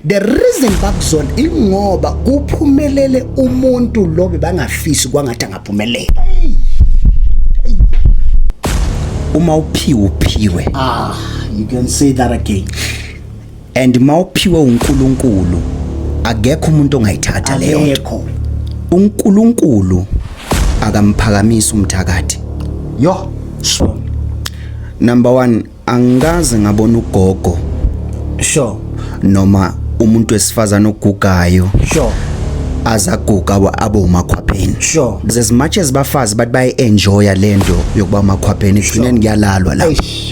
the reason bakuzona ingoba kuphumelele umuntu lo bebangafisi kwangathi angaphumelela uma uphiwe uphiwe ah you can say that again and mawuphiwe uNkulunkulu akekho umuntu ongayithatha leyo nto uNkulunkulu akamphakamisa umthakathi yo sure number 1 angikaze ngabona ugogo sure noma umuntu wesifazana ogugayo sure azaguga abe umakhwapheni sure as much as bafazi bathi bayi enjoya lento yokuba umakhwapheni ekugcineni kuyalalwa la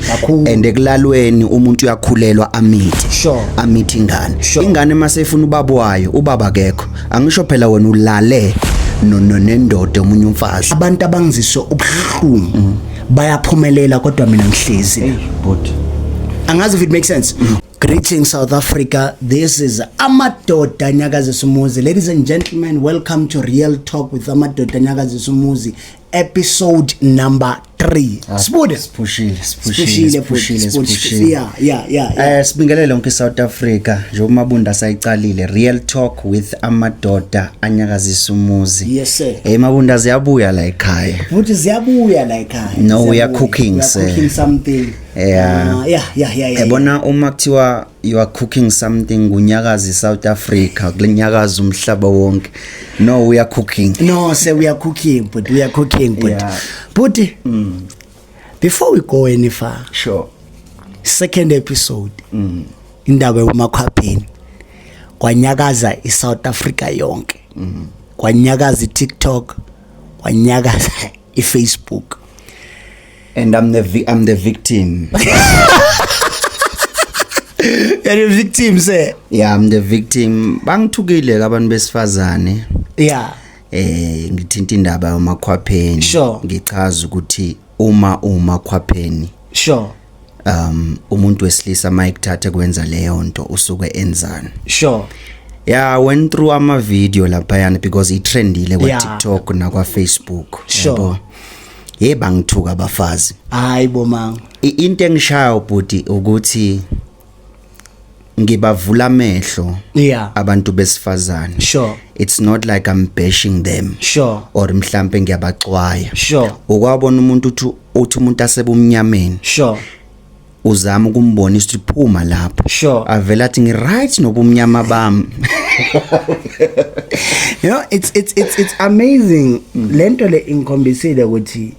kakhulu and ekulalweni umuntu uyakhulelwa amithi sure. amithi ingane sure. ingane maseyifuna ubaba wayo ubaba kekho angisho phela wena ulale nendoda omunye umfazi abantu abangiziso ubuhlungu mm. bayaphumelela kodwa mina ngihlezi hey, but angazi if it makes sense mm. Greetings South Africa. This is Amadoda Nyakazisumuzi. Ladies and gentlemen, welcome to Real Talk with Amadoda Nyakazisumuzi. episode number 3 ah, sibude siphushile siphushile siphushile siphushile yeah yeah yeah eh sibingelele onke South Africa nje umabunda sayiqalile real talk with amadoda anyakazisa umuzi yes sir hey mabunda ziyabuya la ekhaya futhi ziyabuya la ekhaya no we are cooking sir cooking something yeah ah, yeah yeah yeah yabona uma kuthiwa you are cooking something kunyakaza iSouth Africa kunyakaza umhlaba wonke no we are cooking no say we are cooking but we are cooking but yeah. but mm. before we go any far sure second episode mm. indaba yomakhwapheni kwanyakaza iSouth Africa yonke mm. kwanyakaza iTikTok kwanyakaza iFacebook and I'm the vi- I'm the victim. You're the victim sir. yeah, I'm the victim. Bangithukile ke abantu besifazane. Yeah. Eh ngithinta indaba yomakhwapheni. Sure. Ngichaza ukuthi uma umakhwapheni Sure. um umuntu wesilisa mayikuthathe kwenza leyo nto usuke enzani. Sure. Yeah, I went through ama video lapha yana because it trendile kwa Yeah. TikTok na kwa Facebook. Sure. yabo. hey bangithuka abafazi hayi bo mama into engishaya ubhuti ukuthi ngibavula amehlo yeah abantu besifazane sure it's not like i'm bashing them sure or mhlambe ngiyabaxwaya sure ukwabona umuntu uthi uthi umuntu asebumnyameni sure uzama ukumbonisa ukuthi phuma lapho sure avela athi ngiright nobumnyama bami you know it's it's it's it's amazing mm. lento le ingikhombisile ukuthi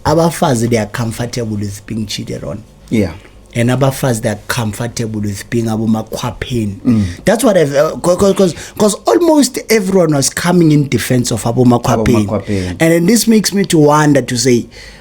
abafazi they are comfortable with being cheated on yeah and abafazi they are comfortable with being abomakhwapheni mm. that's what i've because uh, because almost everyone was coming in defense of abomakhwapheni and then this makes me to wonder to say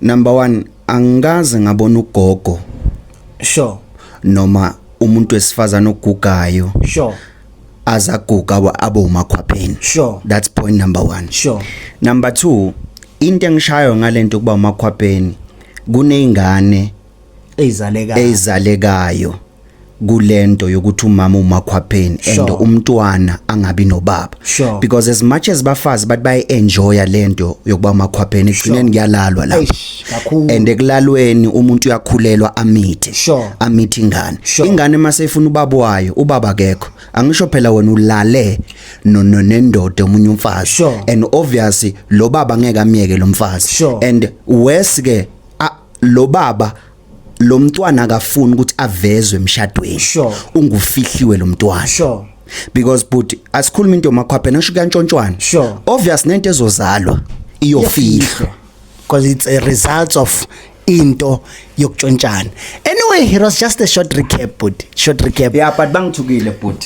Number 1 angikaze ngabona ugogo sure noma umuntu wesifazana ogugayo sure azaguga abe umakhwapheni sure that's point number 1 sure number 2 into engishayo ngalento kuba umakhwapheni kunezingane eyizalekayo eyizalekayo kulento yokuthi umama umakhwapheni and umntwana angabi nobaba sure. because as much as bafazi bathi bayi enjoya lento yokuba umakhwapheni ekugcineni kuyalalwa la and ekulalweni umuntu uyakhulelwa amithe sure. amithe ingane sure. ingane mase ifuna ubaba wayo ubaba akekho angisho phela wena ulale no nendoda omunye umfazi sure. and obviously lo baba ngeke amyeke lo mfazi sure. and worse ke lo baba lo mntwana akafuni ukuthi avezwe emshadweni Sure. ungufihliwe lo mntwana Sure. because but asikhuluma into makhwaphe nasho kuyantshontshwana Sure. obvious nento ezozalwa iyofihlwa because it's a result of into yokutshontshana anyway it was just a short recap but short recap yeah but bangithukile bhuti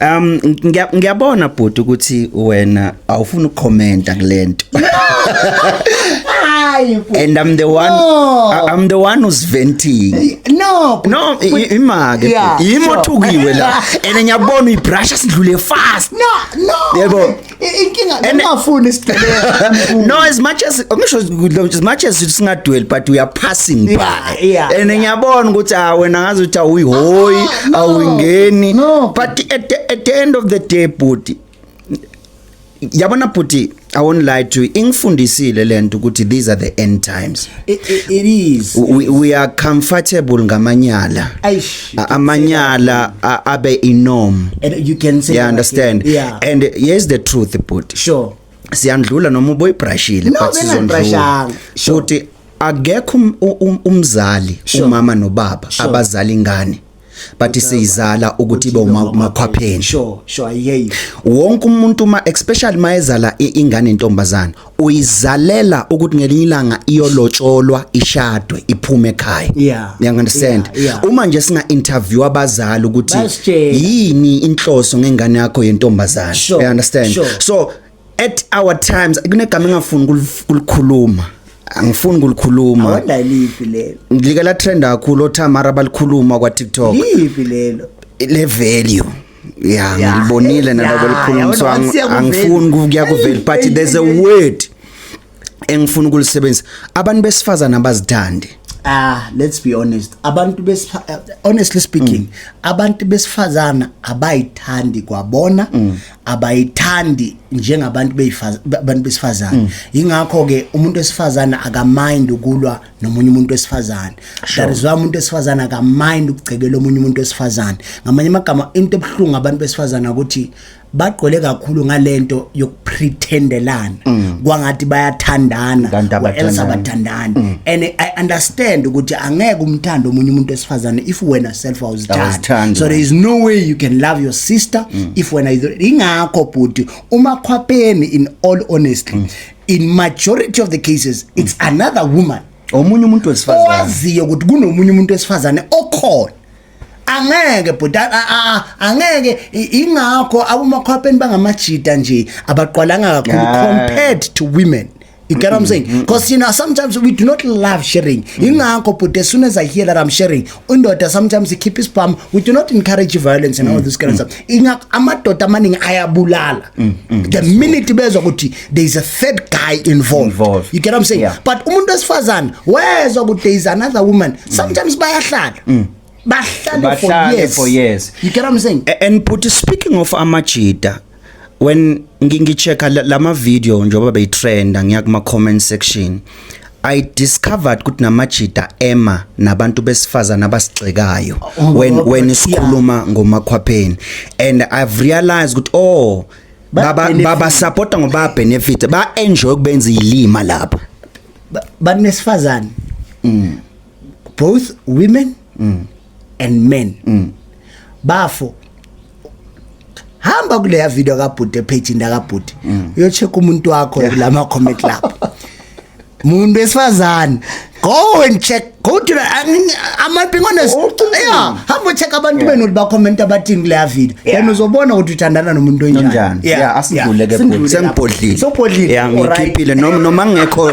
Um ngiyabona bhuti ukuthi wena awufuni ukukhomenta kulento. And I'm the one no. I'm the one who's venting. No. No, imake. Yimo thukiwe la. And ngiyabona uyibrush sidlule fast. No, no. Yebo. inkinga ngingafuni isigebenga no as much as ngisho as much as singadweli but we are passing by and ngiyabona ukuthi ah wena ngazi ukuthi awuyihoyi ah, awungeni but at the, at the end of the day bhuti yabona bhuti I won't lie to you. Ingifundisile lento ukuthi these are the end times. It, it, it is. We, we are comfortable ngamanyala. Aish. uh, amanyala uh, abe inorm and you can say yeah, understand like, yeah. and here's the truth but sure siyandlula noma uboyibrashile no, but sizondlula sure. futhi akekho um, um, umzali sure. umama nobaba sure. abazali ingane bathi seyizala ukuthi ibe umakhwapheni sure sure i hear you wonke umuntu uma especially mayezala ingane intombazana uyizalela ukuthi ngelinye ilanga iyolotsholwa ishadwe iphume ekhaya yeah. you understand yeah, yeah. uma nje singa interview abazali ukuthi yini inhloso ngengane yakho yentombazana sure, you understand sure. so at our times kunegama engafuni kulikhuluma angifuni ukulikhuluma awanda lipi lelo ngilike la trend kakhulu othamara balikhuluma kwa TikTok lipi lelo le value ya Ya, ngilibonile ya, nalabo likhulunyiswa yabona, siya kuvela. angifuni kuya kuveli but Eyi, there's a eyi, eyi. word engifuna ukulisebenzisa abantu besifazana abazithandi ah let's be honest abantu besifa honestly speaking Mm. abantu besifazana abayithandi kwabona Mm. abayithandi njengabantu beyifaza abantu Mm. besifazana ingakho ke umuntu wesifazana akamind ukulwa nomunye umuntu wesifazane that is why umuntu wesifazane akamind ukugcekela omunye umuntu wesifazane ngamanye amagama into ebuhlungu abantu besifazane ukuthi bagqwele kakhulu ngalento yokupretendelana mm. kwangathi bayathandana else abathandani mm. and i understand ukuthi angeke umthande omunye umuntu wesifazane if wena self awuzithandi so there is no way you can love your sister mm. if wena ingakho bhuti umakhwapheni in all honestly in majority of the cases it's mm. another woman omunye umuntu wesifazane owaziyo ukuthi kunomunye umuntu wesifazane okhona angeke bhuti angeke ingakho abumakhwapheni bangamajita nje abaqwalanga kakhulu compared to women You get what I'm saying? Because mm-hmm. you know sometimes we do not love sharing. Mm-hmm. Ingakho but as soon as I hear that I'm sharing, indoda sometimes ikhipha isibhamu we do not encourage violence and mm, all this kind mm. of stuff inga amadoda amaningi ayabulala mm, mm, the minute bezwa ukuthi there is a third guy involved, involved. you get what i'm saying yeah. but umuntu wesifazane wezwa ukuthi there is another woman mm. sometimes mm. bayahlala mm. bahlale for years, for years. you get what i'm saying and but speaking of amajita when ngichecka lama video njengoba beyitrenda ngiya kuma comment section I discovered ukuthi namajida ema nabantu besifazana abasigxekayo oh, when when isikhuluma ngomakhwapheni and I've realized ukuthi oh baba baba supporta ngoba benefit ba enjoy ukubenza ilima lapha banesifazane mm. both women mm. and men mm. bafo hamba kuleya video kabhuti epage ndakabhuti mm. uyocheck umuntu wakho kulama comment lapho muntu wesifazane go and check go to the i'm not being honest oh, yeah hamba check abantu benu ba comment abathini kule video then uzobona ukuthi uthandana nomuntu onjani yeah asivuleke bhuti sengibhodlile so bhodlile yeah ngikhiphile noma noma ngekho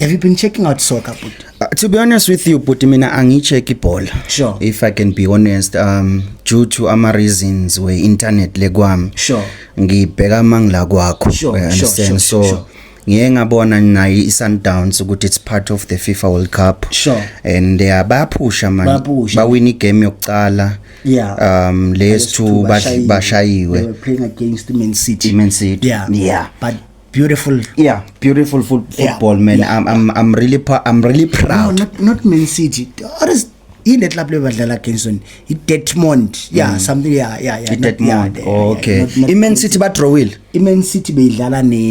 Have you been checking out soccer, Puti? Uh, to be honest with you, Puti, mina angicheck ibhola. Sure. If I can be honest, um due to ama reasons we internet le kwami. Sure. Ngibheka mangila kwakho. Sure, I understand. Sure, sure, so sure. ngiye ngabona nayo i-sundowns ukuthi it's part of the fifa world cup sure. and uh, bayaphusha mani bawina igame yokuqala yeah. um lezi two bashayiwe man city, man city. Yeah. Yeah. but beautiful yeah beautiful foot, football yeah, man yeah, I'm, I'm i'm really i'm really proud no, not, not man city what is in the club level badlala against one i Detmond yeah mm. something yeah yeah yeah Detmond yeah, oh, okay yeah, not, not, i man city ba draw will i man city beyidlala ne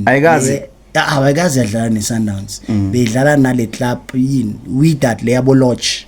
ayikazi awayikazi ah, yadlala ne sundowns mm. beyidlala nale club yini widat le yabo lodge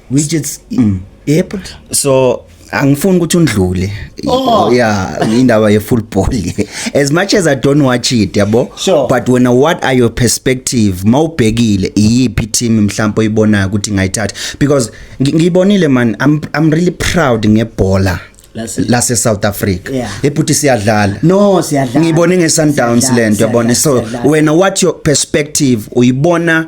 which it's mm. yep so angifuni ukuthi undlule oh. yeah indaba ye football as much as i don't watch it yabo sure. but when what are your perspective mawubhekile iyiphi team mhlawumbe oyibona ukuthi ngayithatha because ngiyibonile man i'm i'm really proud ngebhola lase South Africa yeah. ebhuti siyadlala no siyadlala ngibone nge Sundowns lento yabona so wena what your perspective uyibona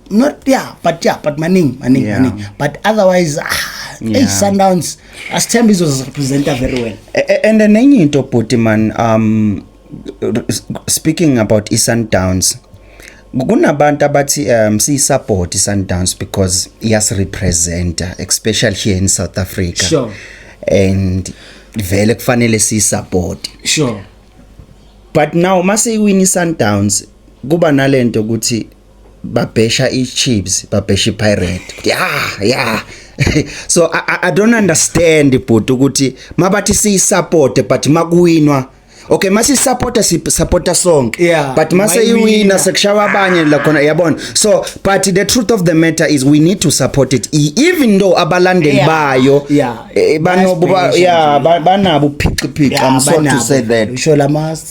not yeah but yeah but maningi maningi yeah. maningi but otherwise ah yeah. hey sundowns asithemba izozirepresenta very well and nenye into bhuti man um speaking about isundowns kunabantu abathi um siyisupport isundowns because iyasirepresenta especially here in south africa sure. and vele kufanele siyisupport sure but now mase iwini sundowns kuba nalento ukuthi babhesha iChiefs babhesha iPirate yeah yeah so I, I, I don't understand bhuti ukuthi mabathi siyisupport but makuwinwa okay mase supporta si supporta sonke yeah, but mase iwina sekushawa abanye la khona yabona so but the truth of the matter is we need to support it e, even though abalandeli yeah, bayo yeah, eh, banobo yeah, banabo phixiphixi yeah, i'm sorry to say that usho lamas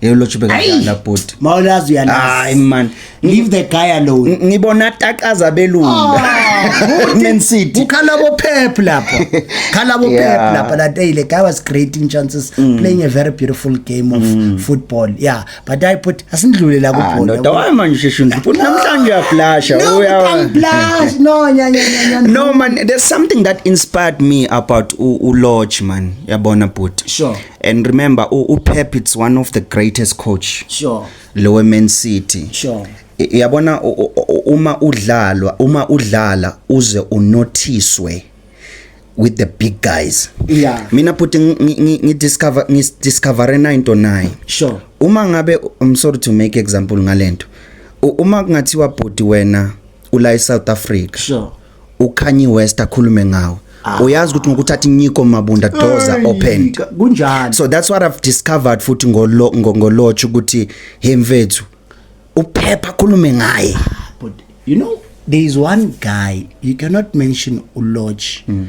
Hey ulotshe bekadlala bhuti. Mawulazi uyalazi. Hayi man. Leave the guy alone. Ngibona taqaza belunga. Ah, Man City. Ukhala bo Pep lapho. Khala bo Pep lapho that day the guy was creating chances mm. playing a very beautiful game of mm. football. Yeah, but I put asindlule la ah, kubhola. Ndoda waye manje sheshe ndiphuthi namhlanje uyaflasha. Uya flash. No nya nya nya. No man, there's something that inspired me about u lodge man. Yabona bhuti. Sure. and remember uPep it's one of the greatest coach sure lowe Man City sure yabona uma udlalwa uma udlala uze unothiswe with the big guys yeah mina bhuti ngi discover ngi discover 909 sure uma ngabe i'm sorry to make example ngalento uma kungathiwa bhuti wena ula eSouth Africa sure uKanye West akhulume ngawo ah. uyazi ukuthi ngokuthatha inyiko mabunda doors are opened kunjani so that's what i've discovered futhi ngolo ngolotch ukuthi he mfethu uphepha khulume ngaye ah, but you know there is one guy you cannot mention ulodge mm.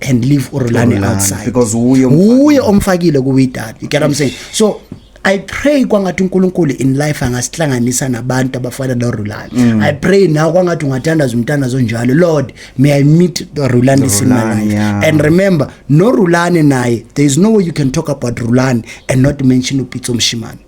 and leave urulani outside because uye uye omfakile ku widad you get what i'm saying so I pray kwangathi uNkulunkulu in life angasihlanganisa nabantu abafana noRulani. Mm. I pray now kwangathi ungathandaza umthandazo onjalo. Lord, may I meet Rulani in my life. Yeah. And remember, no Rulani naye, there is no way you can talk about Rulani and not mention uPitso Mshimane.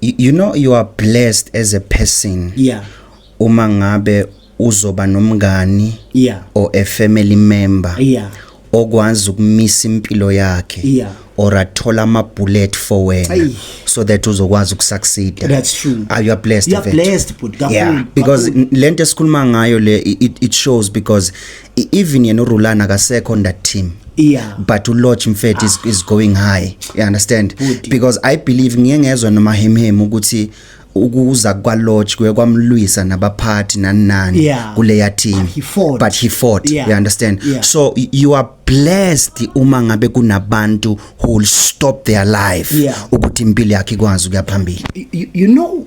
you, you know you are blessed as a person yeah uma ngabe uzoba nomngani yeah or a family member yeah okwazi ukumisa impilo yakhe yeah or athola ama bullet for wena Ay. so that uzokwazi ukusucceed that's true are you blessed you are blessed but yeah because lento esikhuluma ngayo le it, it shows because I- even yena urulana akasekho on that team Yeah. but ulodge mfethu is, is going high you understand Bhuti. because i believe ngiye ngezwa nomahemhemu ukuthi ukuza kwalodge kuye kwamlwisa nabaphathi nani nani Yeah. kuleya team But he fought. but he fought Yeah. you understand Yeah. so y- you are blessed uma ngabe kunabantu who will stop their life Yeah. ukuthi impilo yakhe ikwazi ukuya phambili you, you know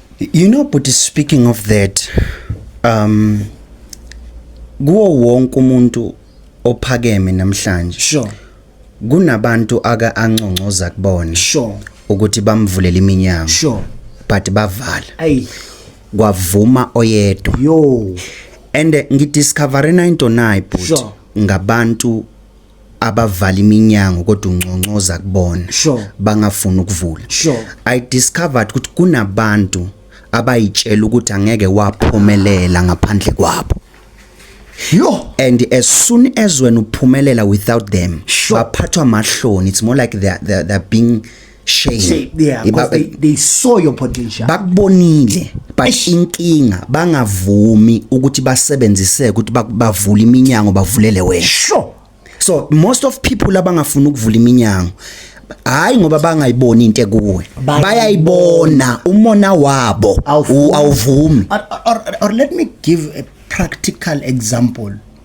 You know but speaking of that um kuwo wonke umuntu ophakeme namhlanje sure kunabantu aka anconcoza kubona sure ukuthi bamvulela iminyango sure but bavala ayi kwavuma oyedwa yo and ngidiscover into nayi bhuti sure. ngabantu abavala iminyango kodwa unconcoza kubona sure. bangafuni ukuvula sure. i discovered ukuthi kunabantu abayitshela ukuthi angeke waphumelela ngaphandle kwabo Yo and as soon as when uphumelela without them sure. baphathwa mahloni it's more like they are, they are, they are being shame, shame. Yeah, because they, they saw your potential bakubonile but inkinga bangavumi ukuthi basebenziseke ukuthi bavule iminyango bavulele wena sure so most of people abangafuni ukuvula iminyango hayi ngoba bangayiboni into ekuwe bayayibona umona wabo awuvumi or, or, or let me give a practical example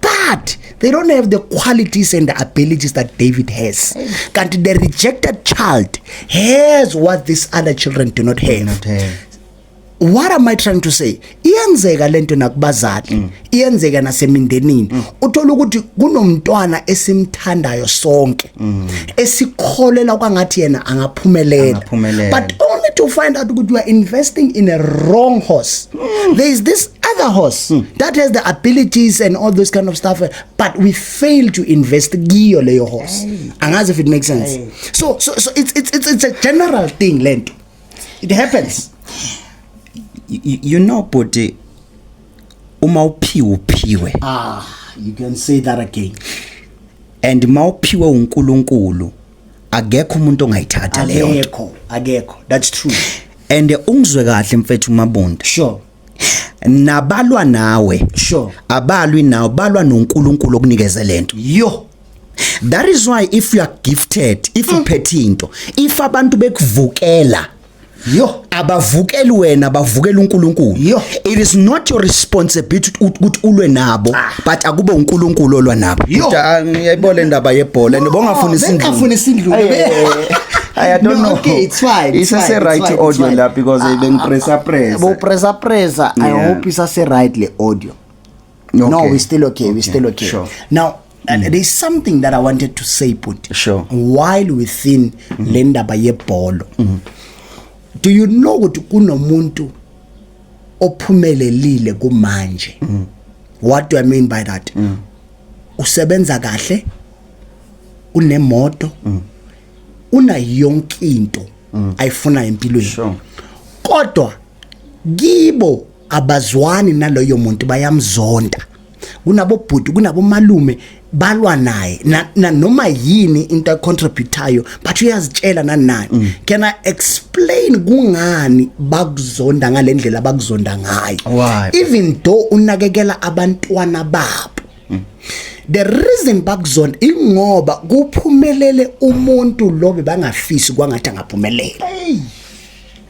but they don't have the qualities and the abilities that David has. Kanti the rejected child has what these other children do not have. Do not have. what am i trying to say iyenzeka lento nakubazali mm. iyenzeka nasemindenini mm. uthola ukuthi kunomntwana esimthandayo sonke mm. esikholela kwangathi yena angaphumelela but only to find out ukuthi you are investing in a wrong horse mm. there is this other horse mm. that has the abilities and all those kind of stuff but we fail to invest kiyo leyo horse angazi if it makes sense so so so it's it's it's, it's a general thing lento it happens you, you know body uma uphiwe uphiwe ah you can say that again and mawuphiwe uNkulunkulu akekho umuntu ongayithatha leyo akekho akekho that's true and ungizwe kahle mfethu mabunda sure nabalwa nawe sure abalwi nawe balwa noNkulunkulu okunikeze lento yo that is why if you are gifted if mm. uphethe into if abantu bekuvukela yo abavukeli wena bavukela uNkulunkulu it is not your responsibility ukuthi ulwe nabo ah. but akube uNkulunkulu olwa nabo ah, ngiyayibona le ndaba yebhola nibongafuna isindlu ngafuna isindlu I don't no, know. Okay, it's fine. It's fine, a right fine, audio la because uh, even pressa pressa. Bo pressa pressa. Yeah. I hope it's a right le audio. Okay. No, we still okay. okay. We still okay. Sure. Now and mm. there's something that I wanted to say put sure. while within mm. le ndaba yebholo mm. do you know ukuthi kunomuntu ophumelelile kumanje mm. what do i mean by that mm. usebenza kahle unemoto mm. una yonke into mm. ayifuna empilweni sure. kodwa kibo abazwani naloyo muntu bayamzonda kunabobhuti kunabomalume balwa naye nanoma yini into ayicontributayo but uyazitshela nanani mm. can i explain kungani bakuzonda ngalendlela bakuzonda ngayo even though unakekela abantwana babo mm. the reason bakuzonda ingoba kuphumelele umuntu lo bebangafisi kwangathi angaphumelela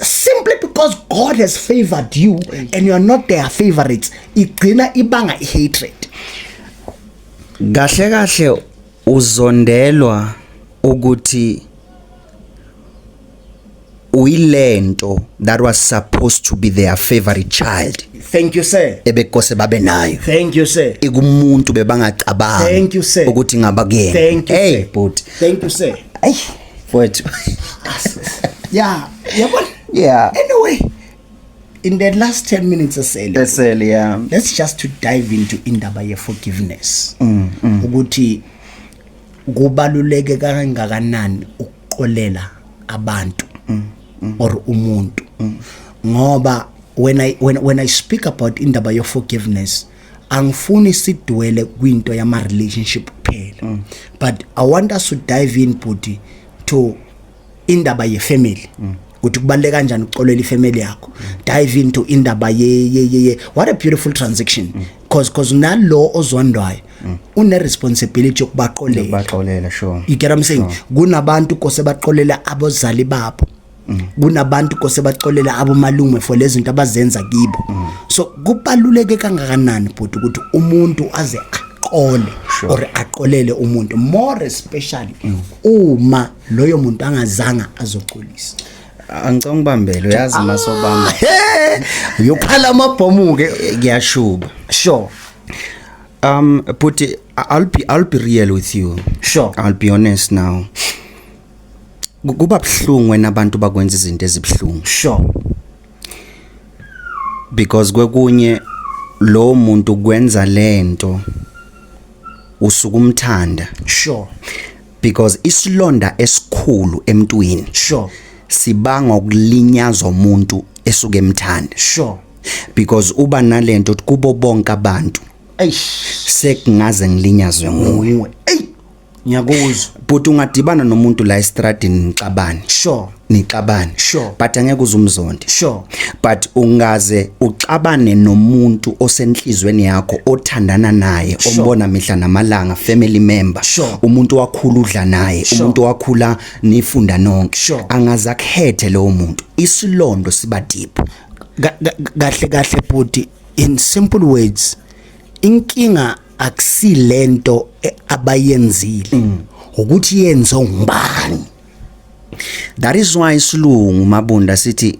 simply because God has favored you and you are not their favorites igcina ibanga ihatred kahle kahle uzondelwa ukuthi uyilento that was supposed to be their favorite child thank you sir ebekose babe nayo thank you sir ikumuntu bebangacabanga thank you sir ukuthi ngaba kuyena hey bhuti thank you sir hey mfowethu yeah yabona yeah anyway in the last 10 minutes esele esele yeah let's just to dive into indaba ye forgiveness mm, mm. ukuthi kubaluleke kangakanani ukuxolela abantu mm, mm. or umuntu mm. ngoba when i when, when i speak about indaba ye forgiveness angifuni sidwele kwinto yama relationship kuphela mm. but i want us to dive in body to indaba ye family mm. ukuthi kubaleke kanjani uxolela ifamily yakho mm. dive into indaba ye ye ye what a beautiful transaction mm. cause cause nalo ozondwayo mm. une responsibility yokubaqolela baxolela sure you get what i'm saying sure. kunabantu kose baqolela abozali babo Mm. kunabantu kose baxolela abomalume for lezinto abazenza kibo mm. so kubaluleke kangakanani bhuti ukuthi umuntu aze aqole sure. or aqolele umuntu more especially mm. uma loyo muntu angazanga azoxolisa angicanga ubambele uyazi ah. masobamba uyokhala amabhomu ke ngiyashuba sure um but I'll be I'll be real with you sure I'll be honest now kuba buhlungu wena abantu bakwenza izinto ezibuhlungu sure because kwekunye lo muntu kwenza lento usuku umthanda sure because isilonda esikhulu emntwini sure sibanga ukulinyazwa umuntu esuke emthanda sure because uba nalento kubo bonke abantu eish sekungaze ngilinyazwe nguwe ngiyakuzwa bhuti ungadibana nomuntu la estradini nixabane sure nixabane sure but angeke uzumzonde sure but ungaze uxabane nomuntu osenhlizweni yakho othandana naye sure. ombona mihla namalanga family member sure. umuntu wakhula udla naye sure. umuntu wakhula nifunda nonke sure. angaze akhethe lowo muntu isilondo siba deep kahle kahle bhuti in simple words inkinga akusilento e, abayenzile mm. ukuthi yenze ngubani that is why isilungu mabunda sithi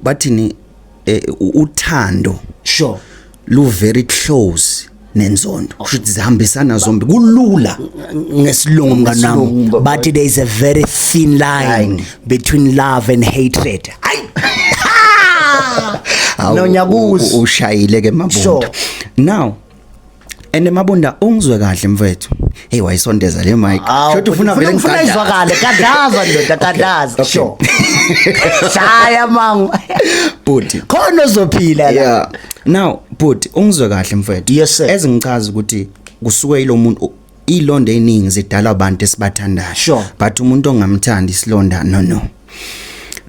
bathini e, uthando sure lu very close nenzondo kusho ukuthi zihambisana zombi kulula ngesilungu mnganami but there is a very thin line between love and hatred hayi no nyakuzi ushayile ke mabunda now ene mabunda ungizwe kahle mfethu hey wayisondeza le mic shothi ufuna vele ngifuna izwakale kadaza ndoda kadaza sho shaya mangu bhuti khona uzophila la now bhuti ungizwe kahle mfethu yes sir ezingichaza ukuthi kusuke ilomuntu ilonda eningi zidala abantu esibathandayo sure. but umuntu ongamthandi isilonda no no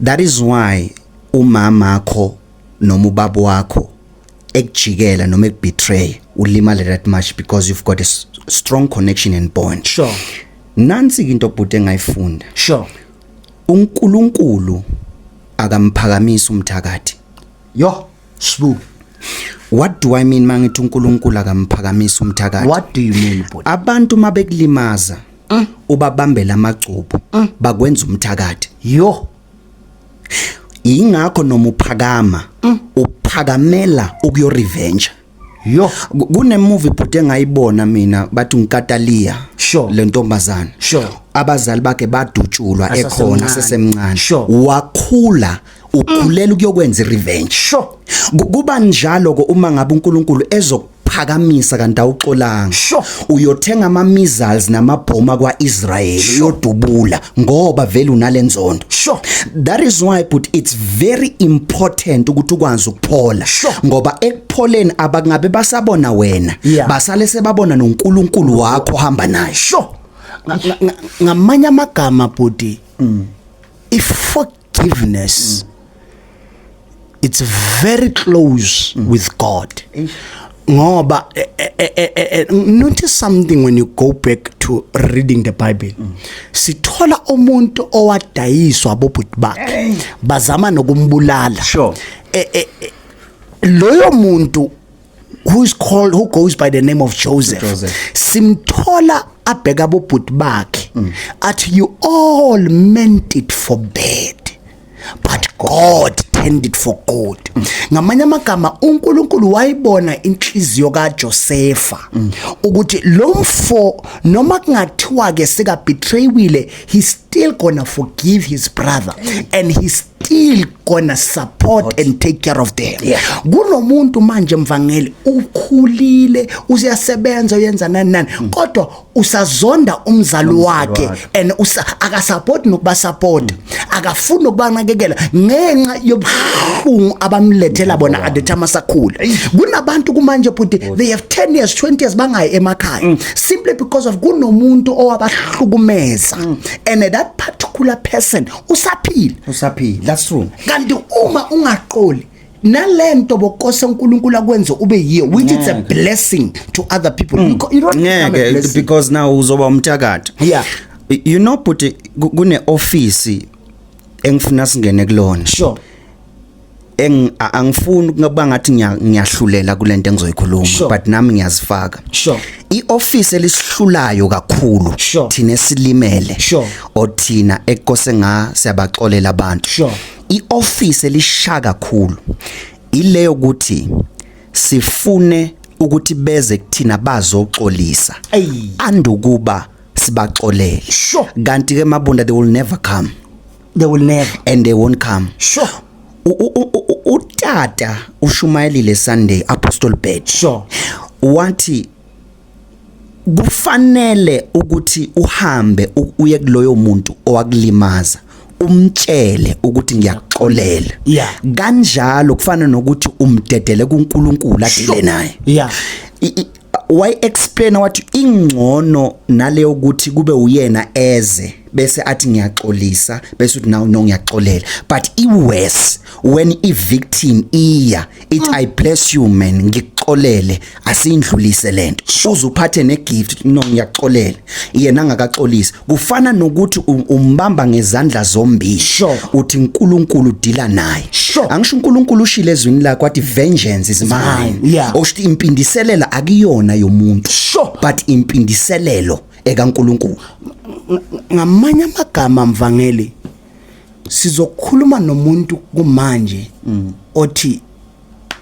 that is why umama wakho noma ubaba wakho ekujikela noma ekubetray ulimale that much because you've got a strong connection and bond sure nansi into obhuti engayifunda sure uNkulunkulu akamphakamisa umthakathi yo sbu What do I mean mangithi uNkulunkulu akamphakamisa umthakathi? What do you mean bhuti? Abantu mabekulimaza mm. ubabambela amacubu mm. bakwenza umthakathi. Yo ingakho noma uphakama mm. uphakamela ukuyo revenge yo kune movie bhuti engayibona mina bathi ngikatalia sure le ntombazana sure abazali bakhe badutshulwa ekhona sesemncane sure wakhula ukhulela ukuyokwenza irevenge sure kuba njalo ke uma ngabe uNkulunkulu ezok phakamisa kanti awuxolanga sure. uyothenga ama missiles namabhoma kwaIsrael sure. uyodubula ngoba vele unalenzondo sure. that is why but it's very important ukuthi ukwazi ukuphola sure. ngoba ekupholeni abangabe basabona wena yeah. basale sebabona noNkulunkulu wakho hamba naye sure. ngamanye amagama bhuti mm. if forgiveness it's very close mm. with god ngoba eh, eh, eh, notice something when you go back to reading the bible mm. sithola umuntu owadayiswa abobhuti bakhe bazama nokumbulala sure loyo muntu who is called who goes by the name of Joseph, Joseph. simthola abheka bobhuti bakhe mm. athi you all meant it for bad but God turned it for good mm. ngamanye amagama uNkulunkulu wayibona inhliziyo kaJosefa mm. ukuthi lo mfo noma kungathiwa ke seka betraywile he still gonna forgive his brother and he still gonna support and take care of them yeah. kunomuntu manje mvangeli ukhulile useyasebenza uyenza nani nani mm. kodwa usazonda umzali wakhe and usa akasupport nokuba support mm. akafuni ukubanakekela ngenxa yobuhlungu abamlethela mm. bona at the time asakhula kunabantu kumanje bhuti they have 10 years 20 years bangayi emakhaya mm. simply because of kunomuntu owabahlukumeza mm. and that particular person usaphila usaphila that's true kanti uma ungaqoli nalento bokose uNkulunkulu akwenze ube yiyo which it's a blessing to other people mm. you don't ngeke because now uzoba umthakathi yeah you know but kune office engifuna singene kulona sure eng a- angifuni ukuba ngathi ngiya- ngiyahlulela kule nto engizoyikhuluma Sure. but nami ngiyazifaka sure i-office elisihlulayo kakhulu Sure. thina esilimele Sure. or thina ekose nga siyabaxolela abantu Sure. i-office elisha kakhulu ileyo ukuthi sifune ukuthi beze kuthina bazoxolisa Eyi. andukuba sibaxolele Sure. kanti ke mabunda they will never come they will never and they won't come sure utata ushumayelile sunday apostle badge sure wathi kufanele ukuthi uhambe uye kuloyo muntu owakulimaza umtshele ukuthi ngiyakuxolela yeah. kanjalo kufana nokuthi umdedele kuNkulunkulu adile naye yeah. Why explain wathi ingcono naleyo ukuthi kube uyena eze bese athi ngiyaxolisa bese uthi nawu no ngiyaxolela but i worse when i victim iya it mm. i bless you man ngikuxolele asindlulise lento uzuphathe ne gift no ngiyaxolela yena angakaxolisi kufana nokuthi umbamba ngezandla zombili sure. uthi uNkulunkulu udila naye sure. angisho uNkulunkulu ushile ezwini lakhe wathi vengeance is mine yeah. osho impindiselela akuyona yomuntu sure. but impindiselelo ekaNkulunkulu ngamanye amagama mvangeli sizokhuluma nomuntu kumanje mm. othi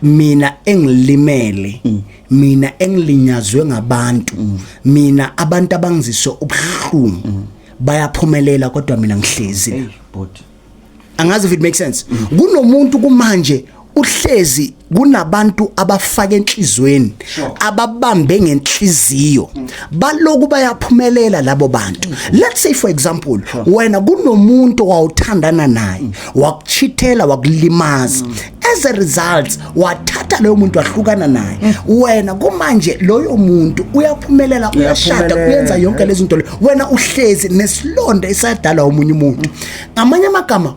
mina engilimele mm. mina engilinyazwe ngabantu mm. mina abantu abangizise ubuhlungu mm. bayaphumelela kodwa mina ngihlezi hey, angazi if it makes sense kunomuntu kumanje uhlezi kunabantu abafaka enhlizweni ababambe ngenhliziyo baloku bayaphumelela labo bantu let's say for example wena kunomuntu wawuthandana naye wakuchithela wakulimaza as a result wathatha loyo muntu wahlukana naye mm. wena kumanje loyo muntu uyaphumelela uyashada uyenza yonke lezi zinto wena uhlezi nesilonda esadala umunye umuntu ngamanye amagama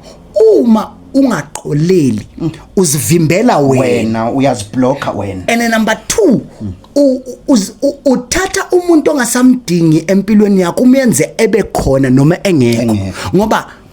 uma ungaqoleli mm. uzivimbela wena uyaziblocker wena and number 2 uthatha umuntu ongasamdingi empilweni yakho umenze ebe khona noma engekho ngoba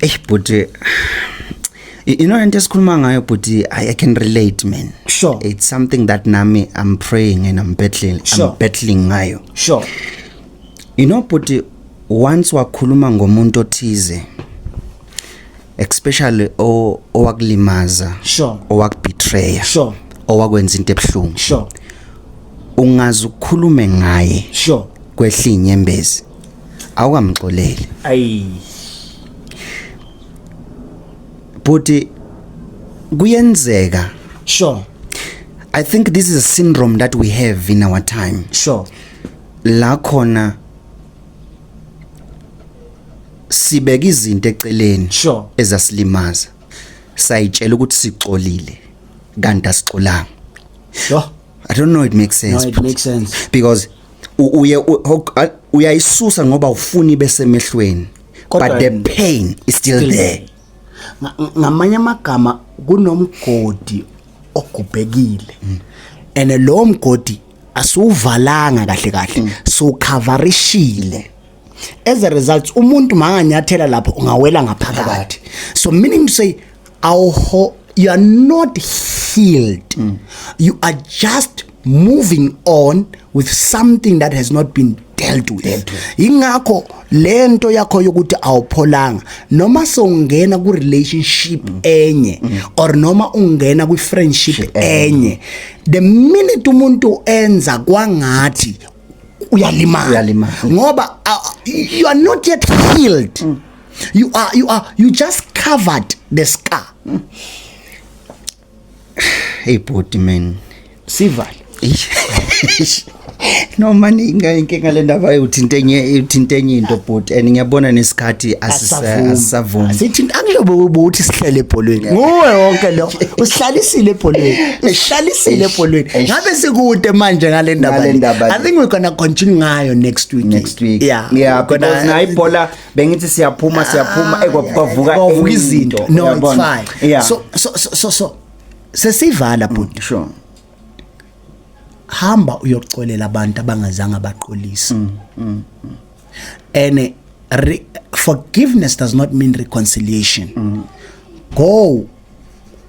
eish bhuti you know into esikhuluma ngayo bhuti i can relate man sure it's something that nami i'm praying and i'm battling sure. i'm battling ngayo sure you know bhuti once wakhuluma ngomuntu othize especially owakulimaza sure owakubetray sure owakwenza into ebuhlungu sure ungazi ukukhulume ngaye sure kwehlinye embezi awukamxoleli ayi bhuti kuyenzeka sure i think this is a syndrome that we have in our time sure la khona sibeka izinto eceleni sure ezasilimaza sayitshela ukuthi sixolile kanti asixolanga yho I don't know it makes sense. No, it makes sense. Because uye uyayisusa ngoba ufuni bese mehlweni. But the pain is still, still there. Ngamanye amagama kunomgodi ogubhekile. Mm. And lo mgodi asiwuvalanga kahle kahle mm. so coverishile as a result umuntu manganyathela lapho ungawela ngaphakathi so meaning to say awho you are not healed mm. you are just moving on with something that has not been dealt with ingakho lento yakho yokuthi awupholanga noma songena ku relationship mm. enye mm. or noma ungena kwi friendship enye the minute umuntu enza kwangathi uyalimala uyalimala ngoba uh, you are not yet healed mm. you are you are you just covered the scar mm. hey body man sivale no mani inga inkinga le ndaba yokuthinte enye uthinte enye into bhuti and ngiyabona nesikhathi asisavumi sithinta angilobo ubuthi sihlele ebholweni nguwe wonke lo usihlalisile ebholweni ngihlalisile ebholweni ngabe sikude manje ngale ndaba i think we're gonna continue ngayo next week next week yeah yeah because na ibhola bengithi siyaphuma ah, siyaphuma ekwavuka kwavuka izinto no it's fine yeah. so so so so sesivala mm, bhuti sure hamba uyoxolela abantu abangazange baqolisa mm, mm, mm. and eh, re, forgiveness does not mean reconciliation mm. go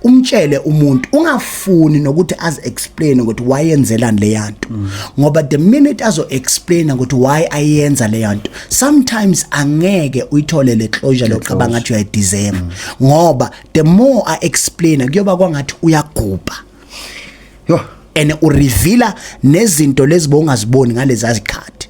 umtshele umuntu ungafuni nokuthi azi explain ukuthi why yenzelani leyanto mm. ngoba the minute azo explain ukuthi why ayenza leyanto sometimes angeke uyithole le closure loqaba ngathi uya deserve mm. ngoba the more i explain kuyoba kwangathi uyagubha yo and ureveala nezinto lezi bongaziboni ngalezi azikhathi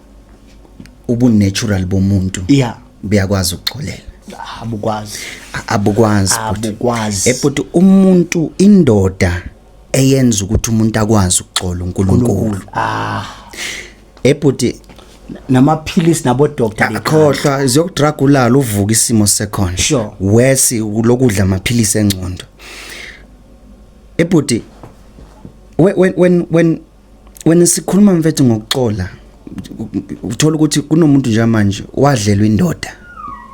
ubunatural bomuntu yeah buyakwazi ukuxolela abukwazi abukwazi abukwazi ebhuti umuntu indoda eyenza ukuthi umuntu akwazi ukuxola uNkulunkulu ah ebhuti namaphilisi nabo doctor akhohlwa ziyokudrug ulala uvuka isimo sekhona sure. worse lokudla amaphilisi engcondo ebhuti when when when wena sikhuluma mfethu ngokuxola uthola ukuthi kunomuntu nje manje wadlelwa indoda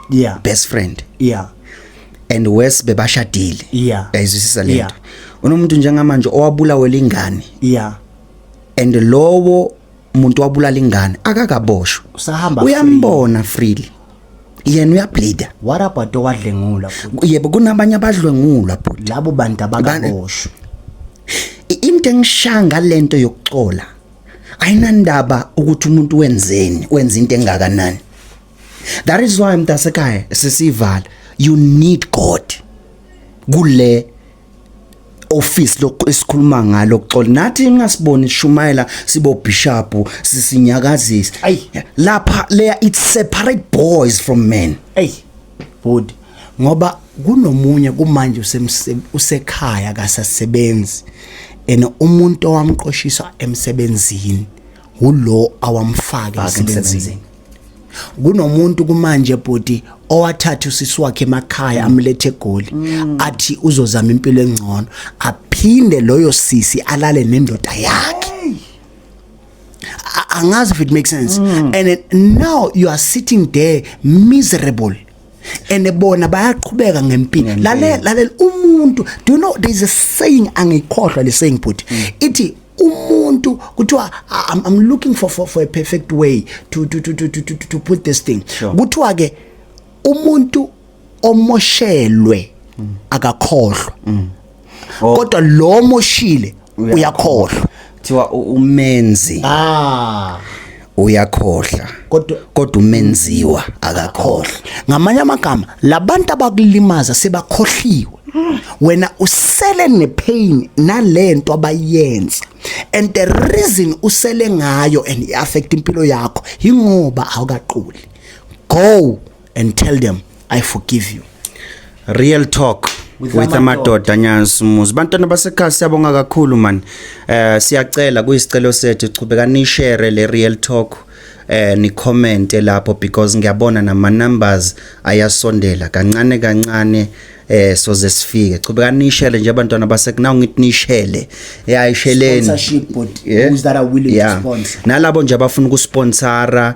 yeah best friend yeah and worse bebashadile yeah ayizwisisa lento yeah. unomuntu njengamanje owabulawe lingane yeah and lowo muntu wabulala ingane akakaboshwa uyambona freely yena uyableeda what about owadlengula futhi yebo kunabanye abadlwengulwa futhi labo bantu abakaboshwe into engishanga lento yokucola ayinandaba ukuthi umuntu wenzeni wenza into engakanani that is why mntasekhaya sisivala you need god kule office lokho esikhuluma ngalo xola nathi ingasiboni shumayela sibo bishop sisinyakazisa ay lapha leya it separate boys from men ay body ngoba kunomunye kumanje usekhaya kasasebenzi ene umuntu owamqoshisa emsebenzini ulo awamfake emsebenzini kunomuntu kumanje bhuti owathatha usisi wakhe emakhaya mm. amlethe egoli mm. athi uzozama impilo engcono aphinde loyo sisi alale nendoda yakhe angazi if it makes sense mm. and now you are sitting there miserable and bona bayaqhubeka ngempilo lalela lalela umuntu do you know there is a saying angikhohlwa le saying bhuti mm. ithi umuntu kuthiwa I'm, I'm looking for, for for a perfect way to to to to to, to, to put this thing sure. kuthiwa ke umuntu omoshelwe mm. akakhohlwa mm. oh. kodwa lo moshile uyakhohlwa kuthiwa umenzi ah uyakhohla kodwa kodwa umenziwa akakhohla ngamanye amagama labantu abakulimaza sebakhohliwe wena usele nepain nalento abayenza and the reason usele ngayo and iaffect impilo yakho ingoba awukaquli go and tell them i forgive you real talk with amadoda nyansumuzi bantwana basekhaya siyabonga kakhulu man eh siyacela kuyisicelo sethu chubeka ni share le real talk eh ni comment lapho because ngiyabona nama numbers ayasondela kancane kancane eh soze sifike chubeka nishele nje abantwana basekuna ngithi nishele yayisheleni sponsorship but yeah. who's that are willing yeah. to sponsor nalabo nje abafuna ukusponsora